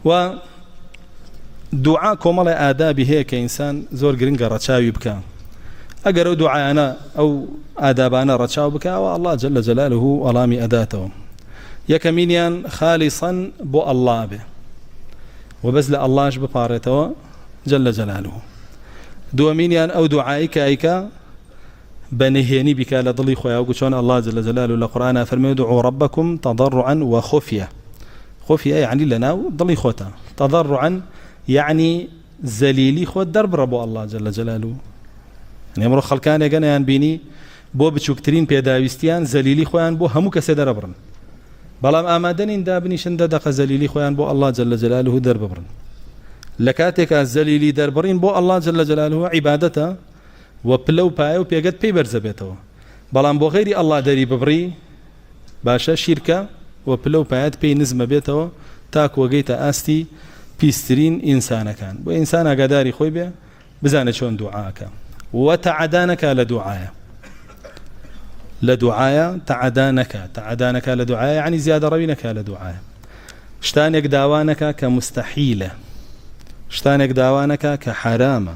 و دوعا کۆمەڵی ئادابی هەیە کە ئینسان زۆر گرنگە ڕەچاوی بکە ئەگەر ئەو دوعایانە ئەو ئادابانە ڕەچاو بکەوە ئەڵا جل لە جەلال و ئەڵامی ئەداتەوە یەکەمینیان خالی سەن بۆ ئەللا بێ و بەس لە ئەللاش بپارێتەوە جل لە جەلال و دووەمینیان ئەو دوعای کە ئەیکە بە نهێنی بیکا لە دڵی خۆیا وەکو چۆن اللە جل جلالە لە قورئانا فەرمی ادعوا ربکم تضرعا وخفیە خفیە یەعنی لە ناو دڵی خۆتا تضرعا یەعنی زەلیلی خۆت دەربڕە بۆ اللە جل جلالە یعنی ئەمڕۆ خەڵکانێک گەنەیان بینی بۆ بچووکترین پێداویستیان زەلیلی خۆیان بۆ هەموو کەسێ دەرەبڕن بەڵام ئامادەنین دابنیشن دە دەقە زەلیلی خۆیان بۆ اللە جل جلالە دەرببڕن لە کاتێکا زەلیلی دەربڕین بۆ اللە جل جلالە عیبادەتە و پلە و پایە و پێگەت پێی بەرزە بێتەوە بەڵام بۆ غەیری اللە دەری ببڕی باشە شیرکە و پلە و پایەت پێی نزمە بێتەوە تاکوە گەیتە ئاستی پیسترین ئینسانەکان بۆ ئینسان ئاگاداری خۆی بێ بزانە چۆن دوعاکە و تەعدا نەکا لە دوعاە لە دوعاە تەعدا نەکە تەعدا نەکا لە دوعاە عنی زیادە ڕەوی نەکا لە دوعاە شتانێک داوانەکە کە مستحیلە شتانێک داوانەکە کە حرامە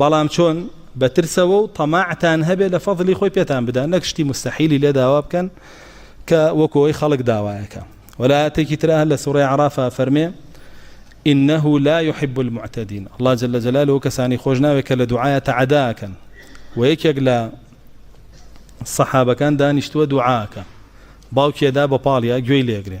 بەڵام چۆن بە ترسەوە و تەماعتان هەبێ لە فەزڵی خۆی پێتان بدا نەک شتی موستەحیلی لێ داوا بکەن کە وەکو ئەوەی خەڵک داوایەکە وە لە ئایەتێکی ترا هەر لە سورەی عەڕافا فەرمێ انه لا يحب المعتدين الله جل جلاله ئەو کەسانی خۆش ناوێت کە لە دوعایا تەعدا ئەکەن و یەکێک لە سەحابەکان دانیشتووە دوعاکە باوکێدا بە پاڵیا گوێی لێگرێ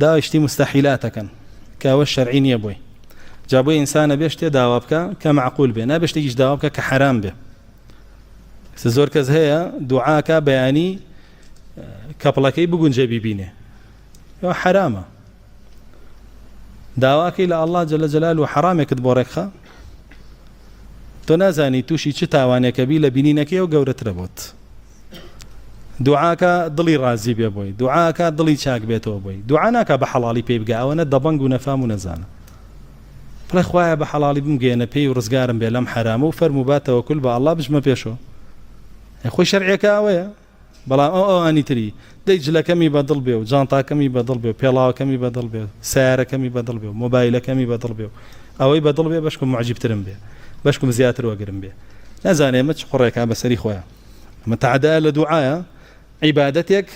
داوای شتی مستحیلات دەکەن کە ئەوە شەرعی نییە بۆی جا بۆی ئینسانە بێ شتێ داوا بکە کە معقول بێ نابێ شتێکیش داوا بکە کە حەرام بێ زۆر کەس هەیە دوعاکە بەیانی کەپڵەکەی بگونجێ بیبینێ ئەوە حەرامە داواکەی لە ئەڵڵا جەلە جەلال و حەرامێکت بۆ ڕێکخە تۆ نازانی تووشی چ تاوانێکەبی لە بینینەکەی و گەورەترە بۆت دوعاکە دڵی ڕازی بێ بۆی دوعاکە دڵی چاک بێتەوە بۆی دوعا ناکە بە حەڵی پێی بگە ئەوەنە دەبەنگ و نەفام و نەزانە بڵێ خوایە بە حەڵی بمگەێنە پێی و ڕزگارم بێ لەم حرامە و فەرم و باتەوە کول بە ئەڵا بژمە پێشەوە خۆی شەرعەکە ئەوەیە بەڵام ئەو ئەوانی تری، دەی جلەکەمی بە دڵ بێ و جانتاکەمی بە دڵ بێ و پێڵاوەکەمی بە دڵ بێ و سەیارەکەمی بە دڵ بێ و مۆبایلەکەمی بە دڵ بێ و ئەوەی بە دڵ بێ بەشکم موعجیبترم بێ، بەشکم زیاتر وەگرم بێ. نازانێ ئەمە چ قوڕێکە بە سەری خۆیا. ئەمە تەعدایە لە دوعایە، عیبادەتێک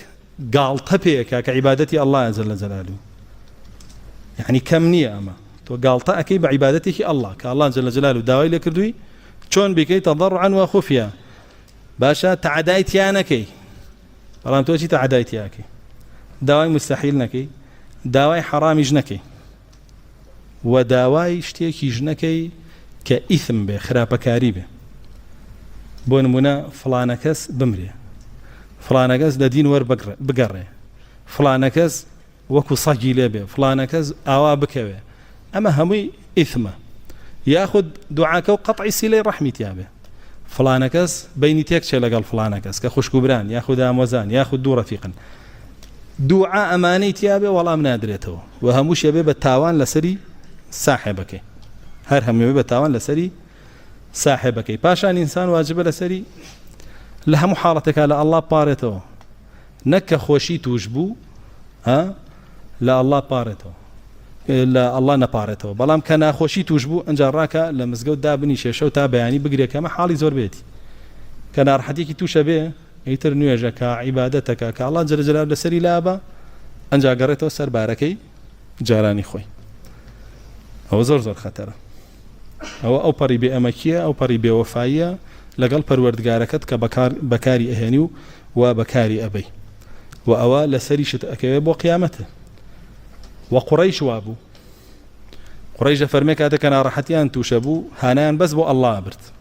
گاڵتە پێیەکا کە عیبادەتی اللە جل جلالە. یەعنی کەم نییە ئەمە. تۆ گاڵتە ئەکەی بە عیبادەتێکی اللە کە اللە جل جلالە داوای لێ کردووی چۆن بیکەی تەضەڕعەن وخوفیا. باشە تەعەدای تیا نەکەی بەڵام تۆ چی تەعەدای تیا ئەکەی داوای مستحیل نەکەی داوای حەڕامیش نەکەی و داوای شتێکیش نەکەی کە ئیثم بێ خراپەکاری بێ بۆ نمونە فڵانەکەس بمرێ فڵانەکەس لە دین وەر بگەڕێ فڵانەکەس وەکو سەگی لێ بێ فڵانەکەس ئاوا بکەوێ ئەمە هەمووی ئیثمە یاخود دوعاکە و قەتعی سیلەی ڕەحمی تیابێ فڵانەکەس بینی تێک چێ لەگەڵ فڵانەکەس کە خوشک و بران یاخود ئامۆزان یاخود دوو ڕەفیقن دوعا ئەمانەی تیابێ وەڵام نادرێتەوە و هەموو شێبێ بە تاوان لەسەری ساحێبەکەی هەر هەمووێ بە تاوان لەسەری ساحێبەکەی پاشان ئینسان واجبە لەسەری لە هەموو حاڵەتەکە لە ئەللا پارێتەوە نەک کە خۆشی تووش بوو ها لە ئەڵڵا پاڕێتەوە لە ئەڵڵا نەپاڕێتەوە بەڵام کە ناخۆشی تووش بوو ئەنجا ڕاکە لە مزگەوت دا بنیشێ شەو تا بەیانی بگرێ کەمە حاڵی زۆر بێتی کە ناڕحەتێکی تووشە بێ ئیتر نوێژەکە عیبادەتەکە کە ئەڵڵا جل جلال لەسەری لابە ئەنجا گەڕێتەوە سەر بارەکەی جارانی خۆی ئەوە زۆر زۆر خەتەرە ئەوە ئەو پەڕی بێ ئەمەکیە ئەو پەڕی بێ وەفاییە لەگەڵ پەروەردگارەکەت کە بەکار بەکاری ئەهێنی و و بەکاری ئەبەی و ئەوە لەسەریشت ئەکەوێ بۆ قیامەتە و قڕیش وابوو قڕیش لە فەرمێ کاتێک کە ناڕەحەتیان تووشە بوو هانیان بەس بۆ ئەللا برد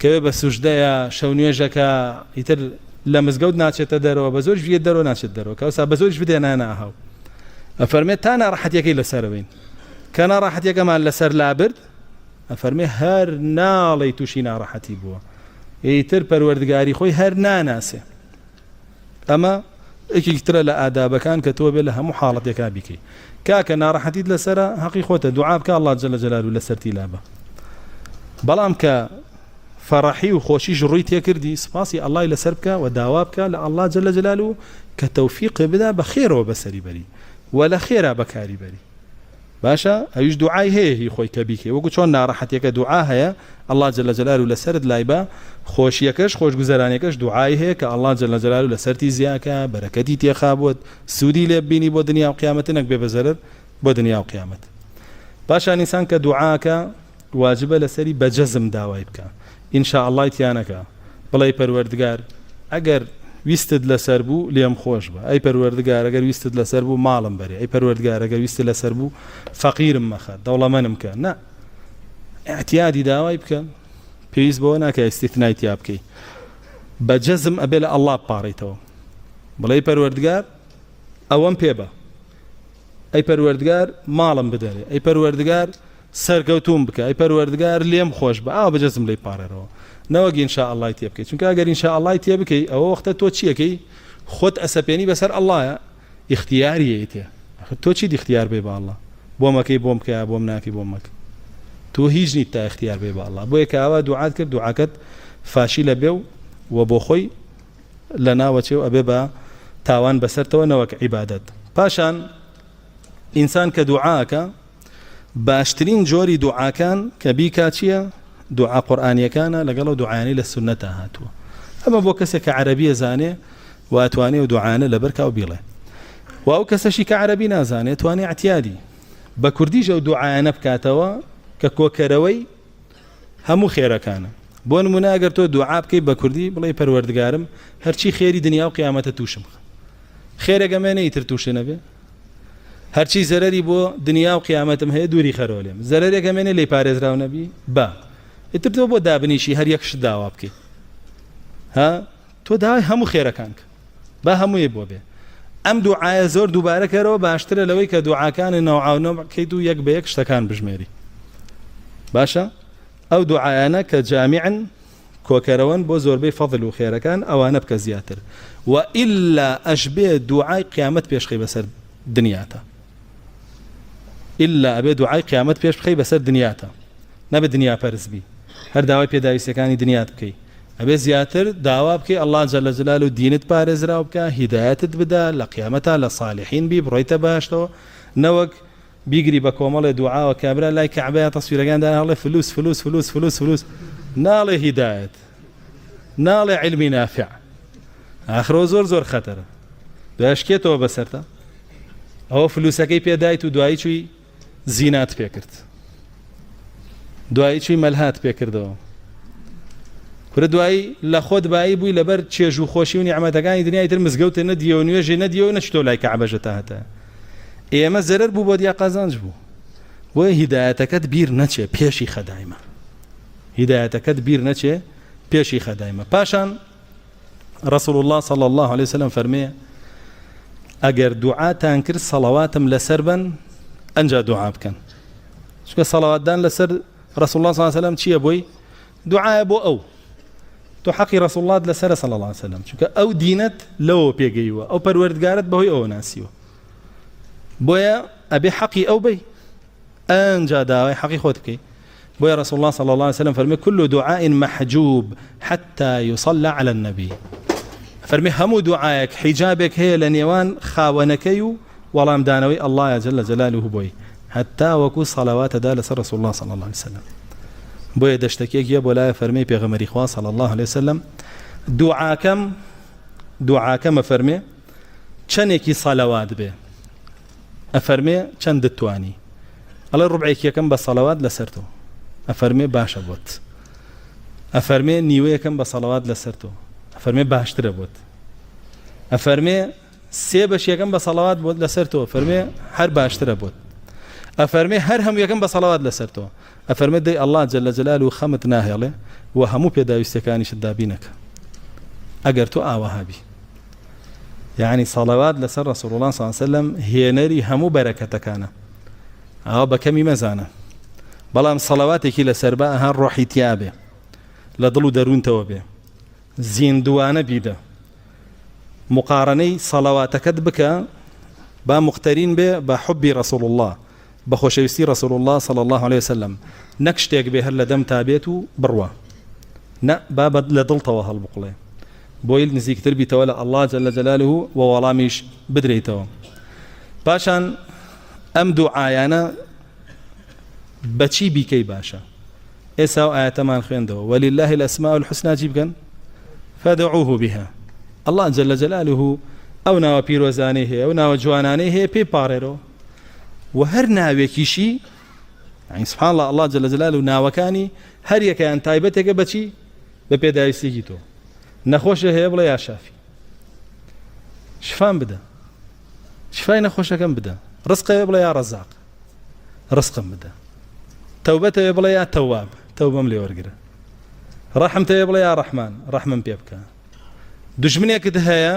کەوێ بە سوژدەیە شەو نوێژەکە ئیتر لە مزگەوت ناچێتە دەرەوە بە زۆر ژێت دەرەوە ناچێت دەرەوە کەسا بە زۆریش بدێ نانا هاو ئەفەرمێت تا ناڕەحەتەکەی لەسەرەوەین کە ناڕەحەتەکەمان لەسەر لابرد ئەفەرمێ هەر ناڵی تووشی ناڕەحەتی بووە ئیتر پەروەردگاری خۆی هەر ناناسێ ئەمە یەکێکی ترە لە ئادابەکان کە تۆ بێ لە هەموو حاڵەتێکا بیکەی کاکە ناڕەحەتیت لەسەرە هەقی خۆتە دوعا بکە اللە جل جلالو لەسەرتی لابە بەڵام کە فەڕەحی و خۆشیش ڕووی تێکردی سپاسی ئەڵای لەسەر بکە و داوا بکە لە ئەڵا جل جلالو کە تەوفیقێ بدا بە خێرەوە بەسەری بەری و لە خێرا بەکاری بەری باشە ئەویش دوعای هەیە هی خۆی کە بیکەی وەکو چۆن ناڕەحەتیەکە دوعا هەیە اللە جل جلالو لەسەرت لایبا خۆشیەکەش خۆشگوزەرانیەکەش دوعای هەیە کە اللە جل جلالو لەسەرتی زیاکە بەرەکەتی تێخابووت سودی لێ ببینی بۆ دنیاو قیامەت نەک بێ بەزەرەر بۆ دنیاو قیامەت باشە ئینسان کە دوعاکە واجبە لەسەری بە جەزم داوای بکە ان شاء اللە ی تیانەکە بڵێی پەروەردگار ئەگەر ویستت لەسەر بوو لێم خۆش بە ئەی پەروەردگار ئەگەر ویستت لەسەر بوو ماڵم بەری ئەی پەروەردگار ئەگەر ویستت لەسەر بوو فەقیرم مەخە دەوڵەمەنم کە نا اعتیادی داوای بکە پێویست بەوە ناکە ئیستیثنای تیا بکەی بە جەزم ئەبێ لە اللە بپاڕیتەوە بڵێی پەروەردگار ئەوەم پێ بە ئەی پەروەردگار ماڵم بدەرێ ئەی پەروەردگار سەرکەوتووم بکە ئەی پەروەردگار لێم خۆش بە ئاوا بەجەستم لێی پاڕێرەوە نەوەک ان شاء اللە ی تێ بکەی چونکە ئەگەر ان شاء اللە ی تێ بکەی ئەوە وەختە تۆ چی ئەکەی خۆت ئەسەپێنی بەسەر اللە ئیختیاری ئەیتێ تۆ چیت ئیختیار بەی بە اللە بۆم ئەکەی بۆم بکەیە بۆم ناکەی بۆم مەکە تۆ هیچ نیت تا ئیختیار بەی بە اللە بۆیە کە ئاوا دوعات کرد دوعاکەت فاشیلە بێ و بۆ خۆی لەناوەچێ و ئەبێ بە تاوان بەسەرتەوە نەوەک عیبادەت پاشان ئینسان کە دوعاکە باشترین جۆری دوعاکان کە بیکا چییە دوعا قورآانیەکانە لەگەڵ و دوعاانی لە سنەتا هاتووە ئەمە بۆ کەسێک کە عەربیە زانێ واتوانێ و دوعاانە لە بەرکاو بیڵێ و ئەو کەسەشی کە عەربی نازانێت توانێ عتیادی بە کوردیش ئەو دوعاانە بکاتەوە کە کۆکەرەوەی هەموو خێرەکانە بۆ نمونە ئەگەر تۆ دوعا بکەی بە کوردی بڵێ پەروەردگارم هەرچی خێری دنیا و قیامەتە تووشم بخە خێرەگە مێنەی تر تووشێ نەبێ هەرچی زەرری بۆ دنیا و قیامەتم هەیە دووری خەرۆ لێم زەرێکە مێنێ لی پارێزراو نەبی با ئیتر تۆ بۆ دابنیشی هەر یەکش داوا بکەیت ها تۆ داوای هەموو خێرەکان کە با هەمووی بۆ بێ ئەم دوعاە زۆر دووبارە کەرەوە باشترە لەوەی کە دوعاکانی ناوعاونە کەیت و یەک بە یەک شتەکان بژمێری باشە ئەو دوعاانە کە جامیعن کۆکەرەوەن بۆ زۆربەی فەضل و خێرەکان ئەوانە بکە زیاتر و ئللا ئەشبێ دوعای قیامەت پێشخی بەسەر دنیاتا ئیلا ئەبێ دوعای قیامەت پێش بخەی بەسەر دنیاتا نەبێ دنیا پەرست بی هەر داوای پێداویستەکانی دنیات بکەی ئەبێ زیاتر داوا بکەی ئەڵڵا جەلە جەلال و دینت پارێزراو بکە هیدایەتت بدا لە قیامەتا لە سالیحین بی بڕۆیتە بەهەشتەوە نەوەک بیگری بە کۆمەڵێ دوعاوە کابرا لای کەعبەیە تەسویرەکان دایە هەڵێ فلوس فلوس فلوس فلوس فلوس ناڵێ هیدایەت ناڵێ علمی نافع ئاخرەوە زۆر زۆر خەتەرە داشکێتەوە بەسەرتا ئەوە فلوسەکەی پێدایت و دوایی چووی زینات پێکرد دوایی چووی مەلهات پێکردەوە کورە دوایی لە خۆت بایی بووی لەبەر چێژ و خۆشی و نیعممەتەکانی دنیای تر مزگەوتە نەدیەوە نوێژێ نەدیەوە نەچتۆ لای کە عبەژە تا هەتا ئێمە زەرەر بوو بۆ دیا قازانج بوو بۆیە هیدایەتەکەت بیر نەچێ پێشی خەدایمە هیدایەتەکەت بیر نەچێ پێشی خە دایمە پاشان رسول اللە صلی اللە علیە وسلم فەرمێ ئەگەر دوعاتان کرد سەڵەواتم لەسەر بن ئەنجا دوعا بکەن چکە سەڵەواتدان لەسەر رسول اللە صلی وسلم چییە بۆی دوعاە بۆ ئەو تو حەقی رسول اللات لەسەر صلی الله عليه وسلم چونکە ئەو دینەت لەوە پێگەیوە ئەو پەروەردگارت بەهۆی ئەوە ناسیوە بۆیە ئەبێ حەقی ئەو بی ئەنجا داوای حەقی خۆت بکەیت بۆیە رسول اللە صلی اللە علیە وسلم فەرمووی، کل دعاء محجوب حتی یصلی علی النبی، فەرمووی هەموو دوعایەک حیجابێک هەیە لە نێوان خاوەنەکەی و وەڵام دانەوەی اللە جل جلاله بۆی هەتاوەکو صلوات ئەدا لەسەر رسول اللە صلی اللە علیە وسلم. بۆیە دەشتەکێک یە بۆ لایە فەرمێ پێغەمەری خوا صلی اللە علیە وسلم دوعاکەم دوعاکەمە فەرمێ چەنێکی صلوات بێ. ئەفەرمێ چەندت توانی؟ ئەڵێ ڕوبعێکی یەکەم بە سەڵەوات لەسەر تۆ. ئەفەرمێ باشە بۆت. ئەفەرمێ نیوەیەکەم بە سەڵەوات لەسەر تۆ. ئەفەرمێ باشترە بۆت. ئەفەرمێ سێ بەشیەکەم بە سەڵەوات بۆت لەسەر تۆ. فەرمێ هەر باشترە بۆت. ئەفەرمێ هەر هەموویەکەم بە سەڵەوات لەسەر تۆ. ئەفەرمێت دەی اللە جل جلالە خەمت ناهێڵێ و هەموو پێداویستیەکانیشت دابین ئەکا ئەگەر تۆ ئاوەها بی یعنی صلوات لەسەر رسول الله صلی الله علیه وسلم هێنەری هەموو بەرەکەتەکانە ئاوا بەکەمی مەزانە بەڵام صلواتێکی لەسەر بە ئەها ڕۆحی تیابێ لە دڵ و دەروونتەوە بێ زیندوانە بیدە مقارنەی صلواتەکەت بکە با مخترین بێ بە حبی رسول الله بە خۆشەویستی رسول اللە صلی اللە علیە وسلم نەک شتێک بێ هەر لە دەمتا بێت و بڕوا نا با بە لە دڵتەوە هەڵبقوڵێ بۆی نزیکتر بیتەوە لە اللە جل جلاله و وەڵامیش بدرێیتەوە پاشان ئەم دوعایانە بە چی بیکەی باشە ئێسا و ئاەتەمان خوێندەوە ولله الاسماء الحسنى جی بکەن فدعوه بها اللە جل جلاله ئەو ناوە پیرۆزانەی هەیە ئەو ناوە جوانانەی هەیە پێی پاڕێرەوە و هەر ناوێکیشی یعنی سبحان الله الله جل جلاله ناوەکانی هەر یەکەیان تایبەتێکە بەچی بە پێداویستێکی تۆ نەخۆشە هەیە بڵێ یا شافی شفان بدە شفای نەخۆشەکەم بدە ڕسقەیە بڵێ یا ڕزاق ڕسقم بدە تەوبەتەوێ بڵێ یا تەواب تەوبەم لێ وەرگرە ڕەحمتەوێ بڵێ یا ڕەحمان ڕەحمم پێ بکە دژمنێکت هەیە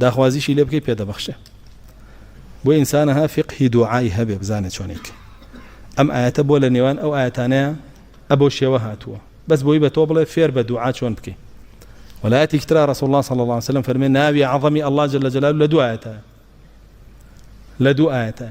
داخوازیشی لێ بکەی پێدەبەخشێ بۆ ئینسانە ها فقهی دوعای هەبێ بزانێ چۆنێک ئەم ئاەتە بۆ لە نێوان ئەو ئاەتانەیە ئەبۆ شێوە هاتووە بەس بۆی بە تۆ بڵێ فێر بە دوعا چۆن بکەی ولاەتی کترا رسول الله صلى الله عليه وسلم فەرمێ ناوی عظمی الله جل جلال لە دوایەتە لە دوو ئاەتە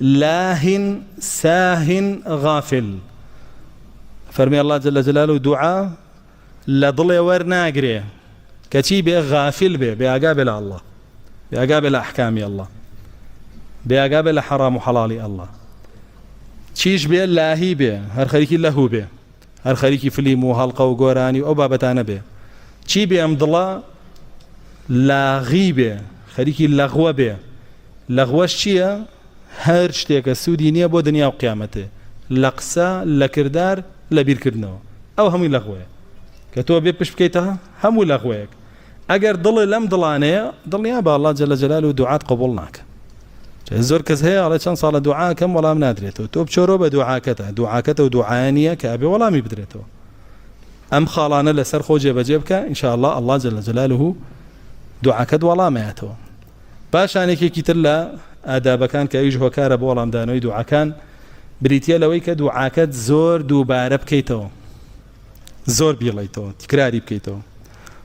لاهٍ ساهٍ غافل فەرمی اللە جل جلالە دوعا لە دڵێ وەرناگرێ کەچی بێ غافل بێ بێ ئاگا بێ لە اللە بێ ئاگا بێ لە ئەحکامی اللە بێ ئاگا بێ لە حەرام و حەڵاڵی اللە چیش بێ لاهی بێ هەر خەریکی لەهوو بێ هەر خەریکی فلیم و هەڵقە و گۆرانی و ئەو بابەتانە بێ چی بێ ئەم دڵە لاغی بێ خەریکی لەغوە بێ لەغوەش چییە هەر شتێکە سوودی نییە بۆ دنیا و قیامەتێ لە قسە لە کردار لە بیرکردنەوە ئەو هەمووی لەغوەیە کە تۆ بێ پشت بکەیتە هەموو لەغوەیەک ئەگەر دڵێ لەم دڵانەیە دڵنیابە اللە جل جلالە دوعات قبوڵ ناکە زۆر کەس هەیە ئەڵێ چەند ساڵە دوعاکەم وەڵام نادرێتەوە تۆ بچۆرۆ بە دوعاکەتە دوعاکەتە و دوعایە نییە کە ئەبێ وەڵامی بدرێتەوە ئەم خاڵانە لەسەر خۆ جێبەجێ بکە ئینشاءالله اللە جل جلاله دوعاکەت وەڵامەیەتەوە پاشانێکێکی تر لە ئادابەکان کە ئەویش هۆکارە بۆ وەڵامدانەوەی دوعاکان بریتە لەوەی کە دوعاکەت زۆر دووبارە بکەیتەوە زۆر بیڵیتەوە تکراری بکەیتەوە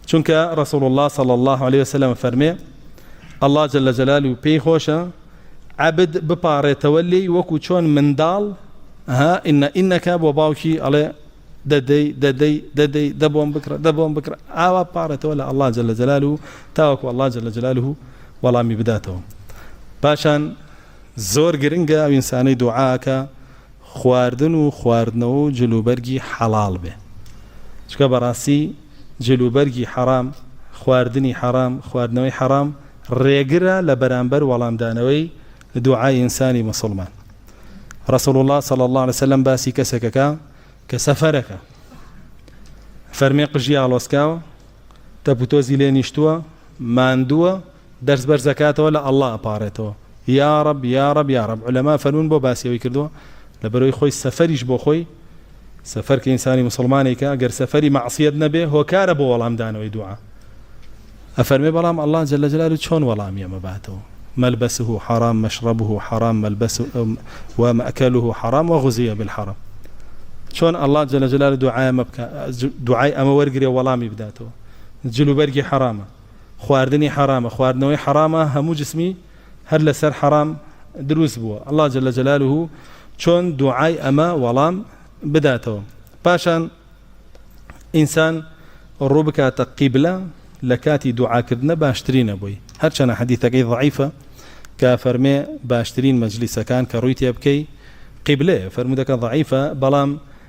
چونکە رسول الله صلی الله عليه وسلم فەرمێ الله جل جلاله پێی خۆشە عبد بپاڕێتەوە لێی وەکو چۆن منداڵ ها ان انك بۆ باوکی ئەڵێ دەدەی دەدەی دەدەی دەبۆم بکرە دەبۆم بکرە ئاوا پارێتەوە لە ئەلله جل جلال و تاوەکو ئەلله جل جلال و وەڵامی بداتەوە پاشان زۆر گرنگە ئەو ئینسانەی دوعاکە خواردن و خواردنەوە و جلوبەرگی حەڵاڵ بێ چونکە بەڕاستی جلوبەرگی حەڕام خواردنی حەڕام خواردنەوەی حەڕام ڕێگرە لە بەرامبەر وەڵامدانەوەی دوعای ئینسانی موسڵمان ڕەسوڵ اللە صلی اللە علیە وسلم باسی کەسێکەکە کە سەفەرەکە فەرمێ قژی ئاڵۆسکاوە تەپوتۆزی لێ نیشتووە ماندووە دەرس بەرز ئەکاتەوە لە اللە ئەپاڕێتەوە یاڕەب یاڕەب یاڕەب عولەما فەرموون بۆ باسی ئەوەی کردووە لەبەرەوەی خۆی سەفەریش بۆ خۆی سەفەر کە ئینسانی موسڵمانی کە گەر سەفەری مەعسیەت نەبێ هۆکارە بۆ وەڵام دانەوەی دوعا ئەفەرمێ بەڵام اللە جل جلالو چۆن وەڵامی ئەمە باتەوە ملبسه حرام مشربه حرام ملبسه ومأكله حرام وغزیە بالحرام چۆن اللە جل جلالو دوعای ئەمە بکا دوعای ئەمە وەرگرێ وەڵامی بداتەوە جلوبەرگی حرامە خواردنی حەڕامە خواردنەوەی حەڕامە هەموو جسمی هەر لەسەر حەڕام دروست بووە اللە جل جلاله چۆن دوعای ئەمە وەڵام بداتەوە پاشان ئینسان ڕوو بکاتە قیبلە لە کاتی دوعاکردنە باشترینە بۆی هەرچەنە حەدیثەکەی ضعیفە کە فەرمێ باشترین مەجلیسەکان کە ڕووی تێ بکەی قیبلەیە فەرمودەکە ضعیفە بەڵام